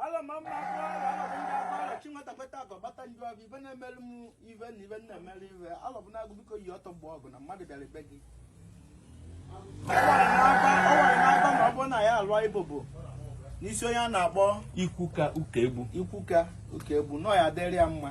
ala ma mma akwa ala ala bụ ndị akwa ala chi nwata kweta akọ gbata nju ọgụ ibe na-emelu m ibe na ibe na-emelu ibe ala bụ na-agụ biko yi ọtọ mgbe ọgụ na mmadụ bịara ibe gị ọ wara n'agba ọ wara n'agba ma ọ bụrụ na ya alụọ ibobo n'isi onye a na-akpọ Ikwuka Ukegbu na ọ ya-adịrị ya mma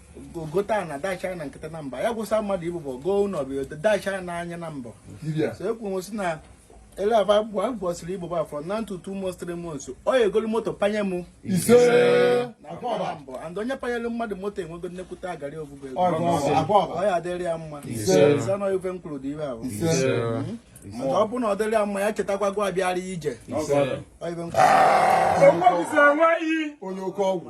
gote ana dacha na nkịta na mba ya gwụsa mmadụ ibobo goo ụlọ bụ dacha na anya na mbọ so ekwu nwesị na ele aba bụ a gwọsịrị ibobo afọ na ntutu ụmụ three months ọ ya-egolu moto panye m ise na mbọ and onye panyere mmadụ moto enwego nnekwute agarị obubo ego ọ ya-adịrị ya mma zanọ ife m kwuru dị ibe ahụ maka ọ bụrụ na ọ dịrị ya mma ya chetakwa gwa abịara ije ọ ife m kwuru onye oke ọgwụ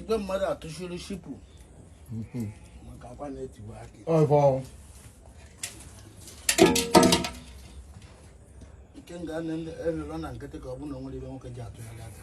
igwe mmadụ atụchiri shipụ mhm. maka akwa na-etiwa akị nke nga elụlọ na nkịtị ka ọ bụ na o nwere ife nwoke ji atụ ya aka